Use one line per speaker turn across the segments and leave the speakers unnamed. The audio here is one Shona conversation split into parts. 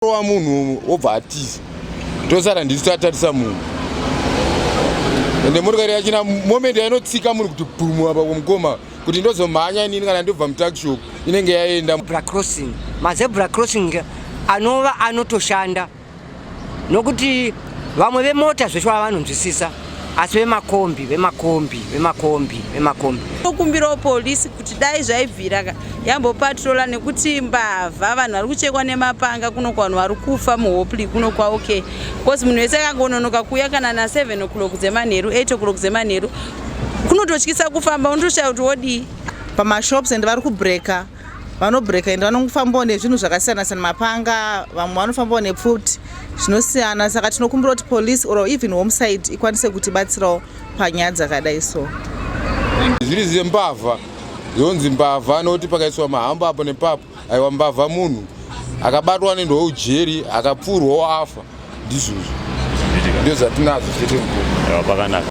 rova munhu wobva atiza tosara ndisu tatarisa munhu ende motokari yachina moment yainotsika munhu kuti bhumu apa kumukoma kuti ndozomhanya inini kana ndobva mutakshop inenge yaenda crossing mazebra crossing anova anotoshanda nokuti vamwe vemota zveshuwa vanonzwisisa asi vemakombi vemakombi vemakombi vemakombi tokumbirawo polisi kuti dai zvaibvira yambopatrola nekuti mbavha vanhu vari kuchekwa nemapanga kuno kwanhu vari kufa muhopli kuno kwaokay bcause munhu wese akangononoka kuuya kana na7 o'clock dzemanheru 8 o'clock dzemanheru kunototyisa kufamba unotoshaya kuti wodii pamashops and vari kubreaker vanobreaker and vanofambawo nezvinhu zvakasiyana siyana mapanga vamwe vanofambawo nepfuti zvinosiyana saka tinokumbira kuti police or even homeside ikwanise kutibatsirawo panyaya dzakadai so zviri zvembavha zvonzi mbavha anoti pakaiswa mahamba apo nepapo aiwa mbavha munhu akabatwa anoendwa ujeri akapfurwawo afa ndizvozvo ndozvatinazvo chete mukuru pakanaka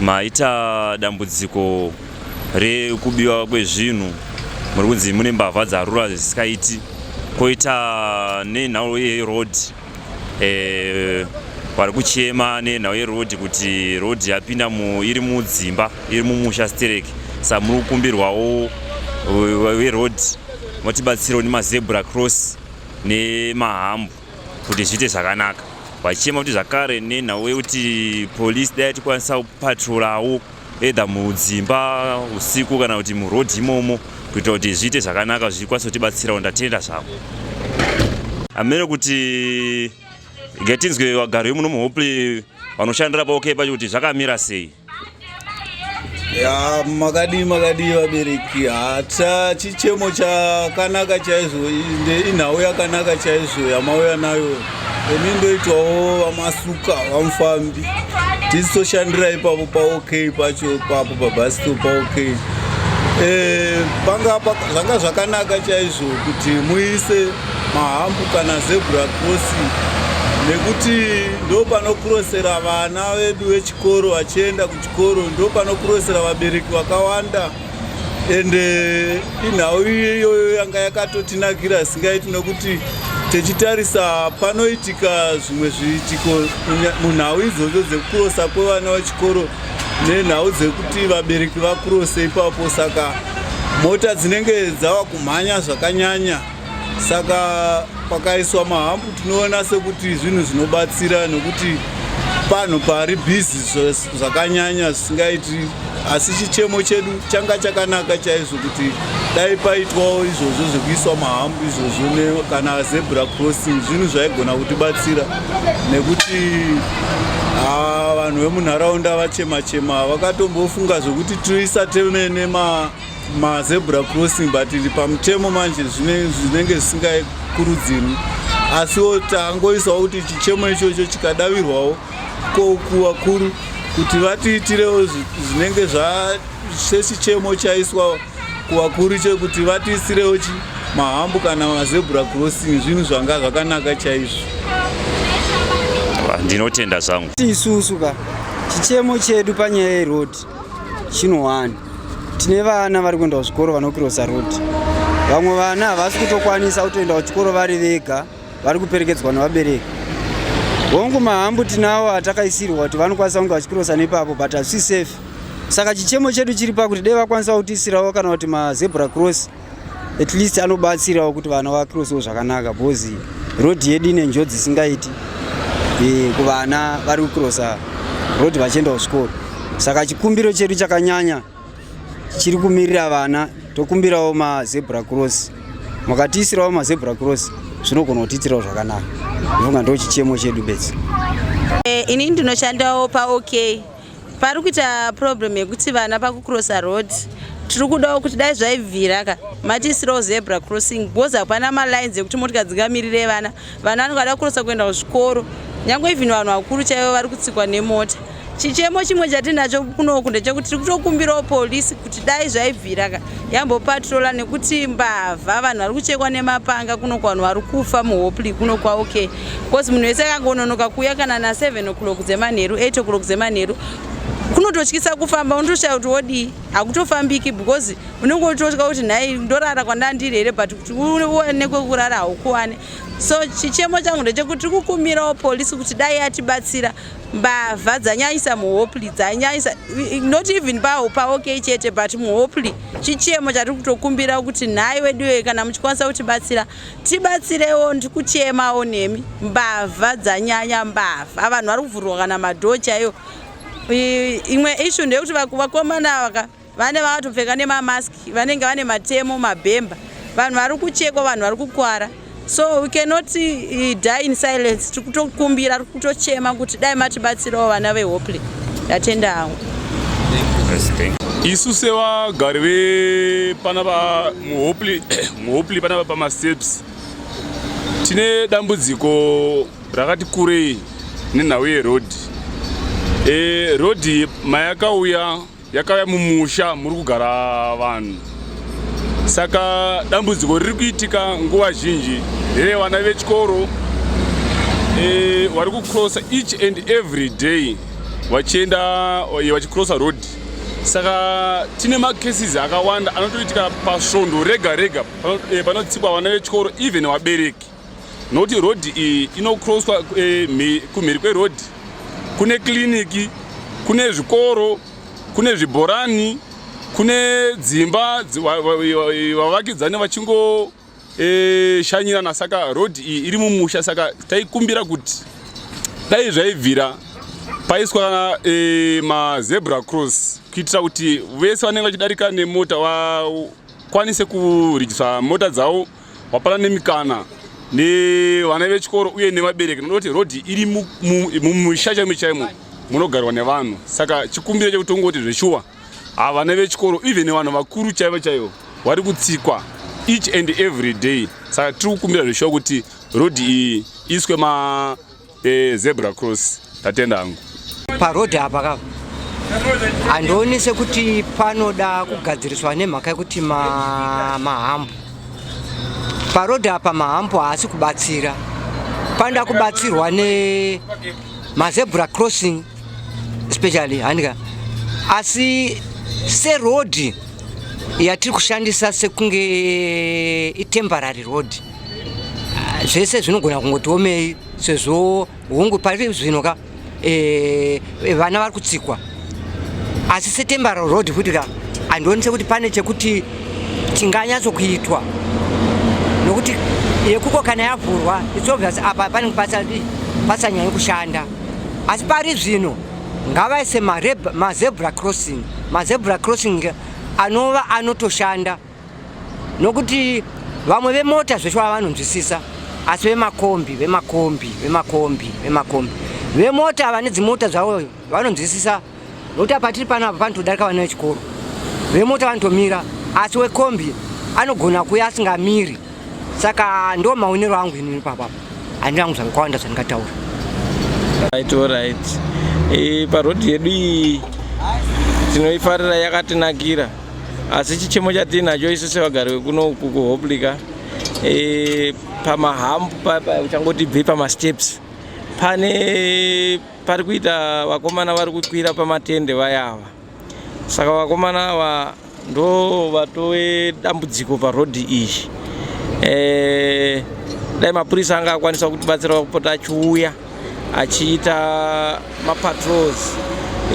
maita dambudziko rekubiwa kwezvinhu muri kunzi mune mbavha dzarura zvisikaiti koita nenhau yeroad eh, vari kuchema nenhau yeroad kuti road yapinda iri mudzimba iri mumusha stereki sa muri kukumbirwawo weroad motibatsirawo nemazebra cross nemahambo kuti zviite zvakanaka vachichema kuti zvakare nenhau yekuti polisi dai tikwanisa kupatrorawo either mudzimba usiku kana kuti muroad imomo kuita kuti zviite zvakanaka zvichikwanisa kutibatsirawo ndatenda zvavo amene kuti getinzwe vagari vemuno muhoply vanoshandira paokei pacho kuti zvakamira sei ya makadii makadii vabereki hata chichemo chakanaka chaizvo inhau yakanaka chaizvo yamauya nayo imi ndoitwawo vamasuka vamufambi tisi toshandira ipapo paok pacho papo pabasito paok e, eh, panga zvanga zvakanaka chaizvo kuti muise mahambu kana zebra crossing nekuti ndopanokurosera vana vedu vechik chikoro vachienda kuchikoro ndopanokurosera vabereki vakawanda ende eh, inhau iyoyo yanga yakatotinakira singaiti nokuti tichitarisa panoitika zvimwe zviitiko munhau idzodzo dzekukurosa kwevana vechikoro nenhau dzekuti vabereki vakurose ipapo saka mota dzinenge dzava kumhanya zvakanyanya saka pakaiswa mahambu tinoona sekuti zvinhu zvinobatsira nekuti panhu pari bhizi zvakanyanya zvisingaiti asi chichemo chedu changa chakanaka chaizvo kuti dai paitwawo izvozvo zvekuiswa mahambu izvozvo kana zebra crossing zvinhu zvaigona kutibatsira nekuti vanhu vemunharaunda vachema chema vakatombofunga zvekuti toisa temene mazebra crossing but iri pamutemo manje zvinenge zvisingakurudzirwi asiwo tangoisawo kuti chichemo ichocho chikadavirwawo kokuvakuru kuti vatiitirewo zvinenge zvasechichemo chaiswa kuvakuru chekuti vatiisirewo chi mahambo kana mazebra crossing zvinhu zvanga zvakanaka chaizvo ndinotenda zvangu isusu ka chichemo chedu panyaya yerodi chinohwani tine vana vari kuenda kuzvikoro vanokirosa roti vamwe vana havasi kutokwanisa kutoenda kuchikoro vari vega vari kuperekedzwa nevabereki hongu mahambu tinawo atakaisirwa kuti vanokwanisa kunge vachikirosa nepapo but hazvisi safe saka chichemo chedu chiri pakuti dei vakwanisa kutiisirawo kana kuti mazebra cross at least anobatsirawo kuti vana vacrosewo zvakanaka because road yedu ine njodzi isingaiti eh, kuvana vari kucrosa road vachienda kuchikoro saka chikumbiro chedu chakanyanya chiri kumirira vana tokumbirawo mazebra cross makatiisirawo mazebra cross zvinogona kutiitirawo zvakanaka ndonga ndo chichemo chedu bedzi eh, ini ndinoshandawo paok pari kuita problem yekuti vana pakucrossa road tiri kudawo kuti dai zvaibvira ka matiisirawo zebra crossing because hapana malines ekuti motika dzingamirire vana vana vanenge vada kurosa kuenda kuzvikoro nyange even vanhu vakuru chaivo vari kutsikwa nemota chichemo chimwe chatinacho kunoku ndechekuti tiri kutokumbirawo polisi kuti dai zvaibvira ka yambopatrola nekuti mbavha vanhu vari kuchekwa nemapanga kuno kwanhu vari kufa muhopli kuno kwaoke bcause munhu wese akangononoka kuuya kana na7 o'clock dzemanheru 8 o'clock dzemanheru kunototyisa kufamba unotoshaya kuti wodii hakutofambiki because unenge utotya kuti nhai ndorara kwandandiri here but kuti uone kwekurara haukuwane so chichemo changu ndechekuti tiri kukumirawo polisi kuti dai yatibatsira mbavha dzanyaisa muhopli dzanyaisa not even paho paokay chete but muhopli chichemo chatiri kutokumbira kuti nhai weduwe kana muchikwanisa kutibatsira tibatsirewo ndiri kuchemawo nemi mbavha dzanyanya mbavha vanhu vari kuvhurwa kana madhoo chaiyo imwe ishu ndeyekuti vakomana vaka vane vakatopfeka nemamask vanenge vane matemo mabhemba vanhu vari kuchekwa vanhu vari kukwara so we cannot uh, die in silence tiri kutokumbira tiri kutochema kuti dai matibatsirawo vana vehopley ndatenda hangu isu sevagari vepana va muhopley muhopley pana va pamasteps tine dambudziko rakati kurei nenhau yerodhi e, rodhi mayakauya yakauya mumusha muri kugara vanhu saka dambudziko riri kuitika nguva zhinji here vana vechikoro e, vari kucrossa each and every day vachienda e, vachicrossa road saka tine macases akawanda anotoitika pasvondo rega rega e, panotsikwa vana vechikoro even vabereki nokuti rodhi iyi inocrosswa eh, kumhiri kwerodhi kune kiriniki kune zvikoro kune zvibhorani kune dzimba vavakidzani vachingo e, shanyirana saka road iyi iri mumusha saka taikumbira kuti dai zvaibvira paiswa e, mazebra cross kuitira kuti vese vanenge vachidarika nemota vakwanise kurijisa mota dzavo wapana nemikana nevana vechikoro uye nevabereki noda kuti rodhi iri mumusha chaimo chaimo munogarwa nevanhu saka chikumbiro chekutongoti zveshuwa havana vechikoro even vanhu vakuru chaivo chaivo vari kutsikwa each and every day saka tiri kukumbira zveshuwa kuti rodhi iyi iswe ma Eh, zebra cross tatenda hangu. Paroad apa ka handioni sekuti panoda kugadziriswa nemhaka yekuti mahambo paroad apa mahambo haasi kubatsira panoda kubatsirwa ne mazebra crossing especially handika asi seroad yatiri kushandisa sekunge itemporary road Ah, zvese zvinogona kungotiomei sezvo hungu pari zvino ka eh, vana vari kutsikwa asi setembaro road futi ka handionise kuti pane chekuti tinganyatso kuitwa nokuti yekuko kana yavhurwa its obvious apa panenge pasanyanyi kushanda asi pari zvino ngavaise mazebra crossing mazebra crossing anova anotoshanda nokuti vamwe vemota zveshuwa vanonzwisisa asi vemakombi vemakombi vemakombi vemakombi vemota ava nedzimota zvavo vanonzwisisa nokuti apa tiri pano apa panotodarika vana vechikoro vemota vanotomira asi wekombi anogona kuya asingamiri saka ndo maonero angu ini ipapa handina kungu zvakawanda zvandingataura right orit e, eh, parhodhi yedu iyi tinoifarira yakatinakira asi chichemo chatiinacho isu sevagari vekuno uku kuhoplika e, pamahambu uchangoti bve pamasteps pane pari kuita vakomana vari kukwira pamatende vayava saka vakomana ava ndo vatove dambudziko parodhi iyi e, dai mapurisa anga akwanisa kutibatsira kupota achiuya achiita mapatrols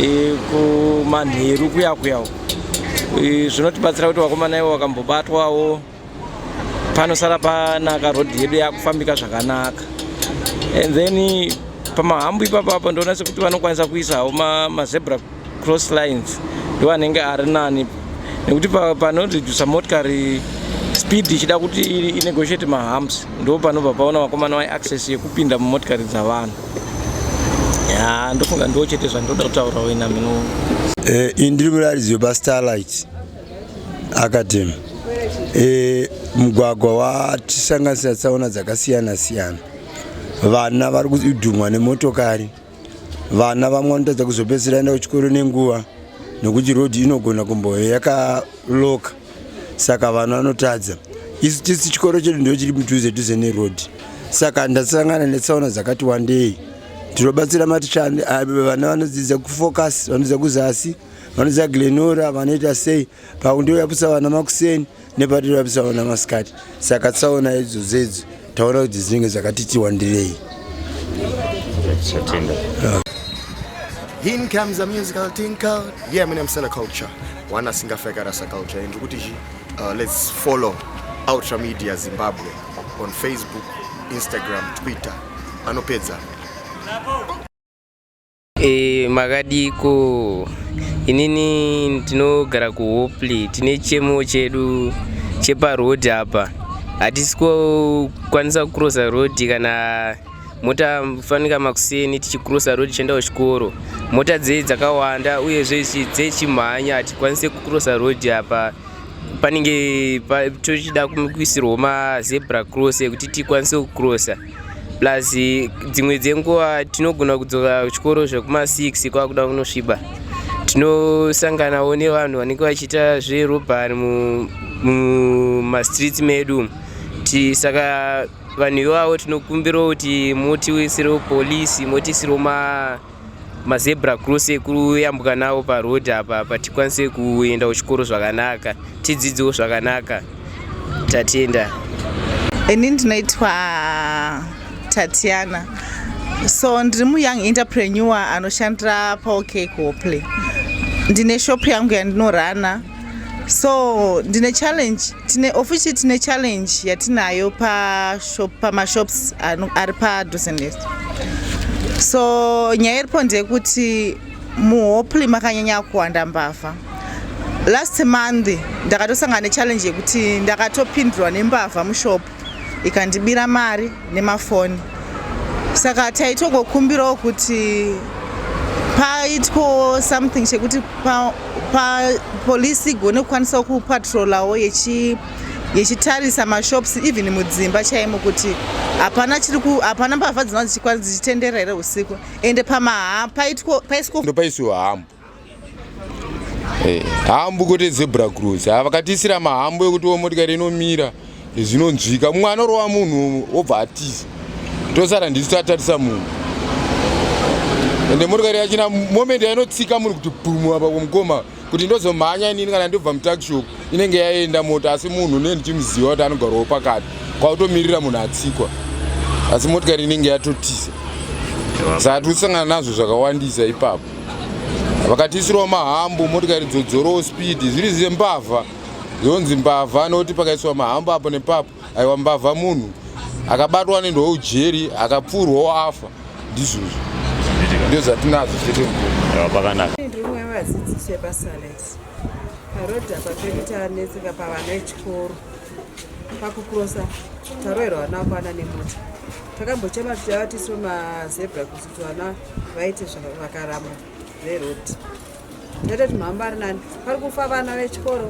e, kumanheru kuya kuya e, zvinotibatsira kuti vakomana ivo vakambobatwawo panosara panaka road yedu yakufambika zvakanaka and then pamahambo ipapapo ndoona sekuti vanokwanisa kuisawo mazebra ma cross lines ndiwo anenge ari nani nekuti panoredusa motikari speed ichida kuti inegotiate mahumps ndo panobva paona vakomana vai access yekupinda mumotikari dzavanhu ya ndofunga ndiwo chete zvandoda kutaura wena mino eh, ini ndiri murairidzi wepastarlight academy eh, mugwagwa watisanganisira tsaona dzakasiyana siyana vana vari kudhumwa nemotokari vana vamwe vanotadza kuzopedzisira enda kuchikoro nenguva nokuti road inogona kumboyo yakaloka saka vana vanotadza isu tisi chikoro chedu ndo chiri mudhuze dhuze neroad saka ndasangana netsaona dzakati wandei tinobatsira maticha vana vanodzidza kufocus vanodzidza kuzasi vanodzidza glenora vanoita sei pakundiuyapusa vana makuseni nepatiri vapitsaona masikati saka tsaona idzo dzedzo taona kuti dzinenge dzakatiti wandirei In comes a musical tinkle. Yeah, my name is Culture. One single figure as a culture. And uh, let's follow Ultra Media Zimbabwe on Facebook, Instagram, Twitter. Anopedza. E, makadiko inini tinogara kuhoply tine chemo chedu cheparoad apa hatisi kukwanisa kucrossa road kana mota fanika makuseni tichicrossa road tichienda kuchikoro mota dzei dzakawanda uyezve dzechimhanya hatikwanise kucrossa road apa panenge tochida kuisirwa mazebra cross ekuti tikwanise kucrossa plus dzimwe dzenguva tinogona kudzoka kuchikoro zvekuma 6 kwakuda kunosviba tinosanganawo nevanhu vanenge vachiita zverobhari mumastreets medu saka vanhu ivavo tinokumbirawo kuti motiisirewo polisi motiisirewo ma mazebra cross ekuyambuka nawo paroad apa pa tikwanise kuenda kuchikoro zvakanaka tidzidzewo zvakanaka tatenda ini ndinoitwa tatiana so ndiri muyoung interpreneur anoshandira paokek hopley ndine shop yangu yandinorana so ndine challenge tine officially tine challenge yatinayo pamashops ari padosendes so nyaya iripo ndeyekuti muhoply makanyanya kuwanda mbavha last month ndakatosangana nechallenge yekuti ndakatopindurwa nembavha mushop ikandibira mari nemafoni saka taitongokumbirawo kuti paitwawo something chekuti papolisi pa, igone kukwanisawo kupatrolawo yechi yechitarisa mashops even mudzimba chaimo kuti hapana chiri ku hapana mbavha dzinova dzichitenderera here usiku ende pamahaa paitwa paiswa ndopaiswa hamu Eh, hambu kwete zebra cross ah, vakatiisira mahambu ekuti wo motikari inomira zvinonzwika mumwe anorova munhu obva atiza tosara ndisu tatarisa munhu ende motikari yachina moment yainotsika munhu kuti bhumu apa kumukoma kuti ndozomhanya inini kana ndobva mutakshop inenge yaenda mota asi munhu ne ndichimuziva kuti anogarwawo pakati kwautomirira munhu atsikwa asi motikari inenge yatotiza saka tikusangana nazvo zvakawandisa ipapo vakatiisirawo mahambu motikari dzodzorowo speed zviri zve mbavha zvonzi mbavha anoti pakaiswa mahambu apo nepapo aiwa mbavha munhu akabatwa anoendwawo ujeri akapfuurwawo afa ndizvozvo ndo zvatinazvo chete mukuakanaka vadzidzisi vepasalet parodha patoita netsika pavana echikoro pakukurosa taroerwa vana kwana nemota takambochema tichava tiso mazebra kuti Vana vaiti vakarama veroti ndatoti mhamba ari nani pari kufa vana vechikoro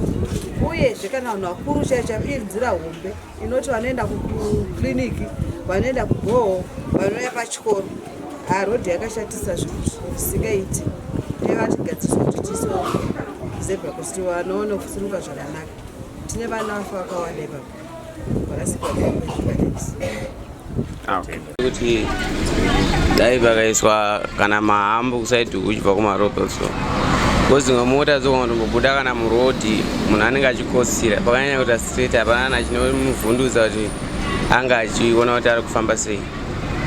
uyezve kana vanhu vakuru chaicha iri nzira hombe inoti vanoenda kukiriniki vanoenda kugoho vanouya pachikoro harodhi yakashatisa zvinhu zvisingaiti nevatigadziso kuti tiso zebra kuti vanoona kusuruka zvakanaka tine vana vafa vakawanda ipapa Ah, kuti dai pakaiswa kana mahambo kusaidi kuchibva kumaropa so kozinga mota dzokangotombobuda kana murodhi munhu anenge achikosira pakanyanya kuita straight hapana nachine muvhundudza kuti anga achiona kuti ari kufamba sei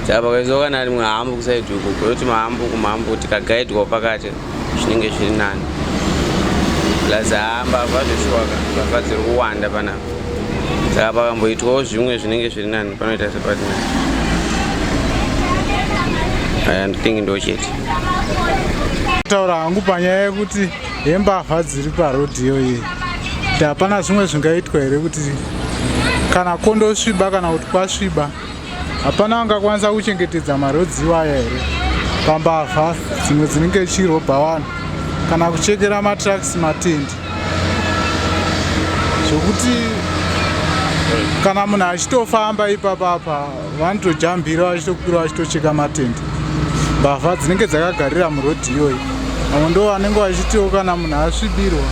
saka pakaiziwa kana rimwe hambu kusaidi uko kuyoti mahambu kumhambu tikagaidwawo pakati zvinenge zviri nani plus hamba vazveshuwaka vava dziri kuwanda panapa saka pakamboitwawo zvimwe zvinenge zviri nani panoita sepati nani aya ndithingi ndo chete taura hangu panyaya yekuti yembavha dziri parodhiyo iyi hapana zvimwe zvingaitwa here kuti kana kondosviba kana kuti kwasviba hapana angakwanisa kuchengetedza marodziwo aya here pambavha dzimwe dzinenge chirobha vanhu kana kuchekera matraks matendi zvokuti kana munhu achitofamba ipapapa vanotojambira vachitokwira vachitocheka matendi mbavha dzinenge dzakagarira murodhi iyoyi vamwe ndo vanenge vachitiwo kana munhu asvibirwa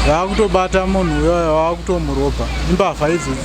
vaakutobata munhu uyoyo vaakutomurobha imbavha idzodzi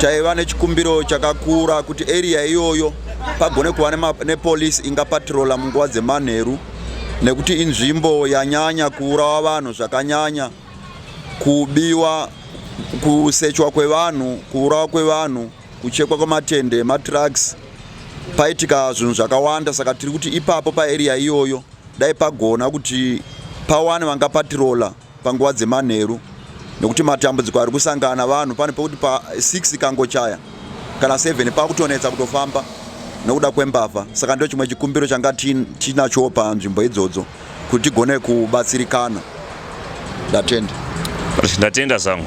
taiva nechikumbiro chakakura kuti area iyoyo pagone kuva nepolice ingapatrola munguva dzemanheru nekuti inzvimbo yanyanya kuurawa vanhu zvakanyanya kubiwa kusechwa kwevanhu kuurawa kwevanhu kuchekwa kwematende matrucks paitika zvinhu zvakawanda saka tiri kuti ipapo paarea iyoyo dai pagona kuti pawane vangapatirola panguva dzemanheru nekuti matambudziko ari kusangana vanhu pane pekuti pa 6 ikangochaya kana 7 pakutonetsa kutofamba nokuda kwembavha saka ndo chimwe chikumbiro changa tinachowo panzvimbo idzodzo kuti tigone kubatsirikana ndatenda ndatenda zvangu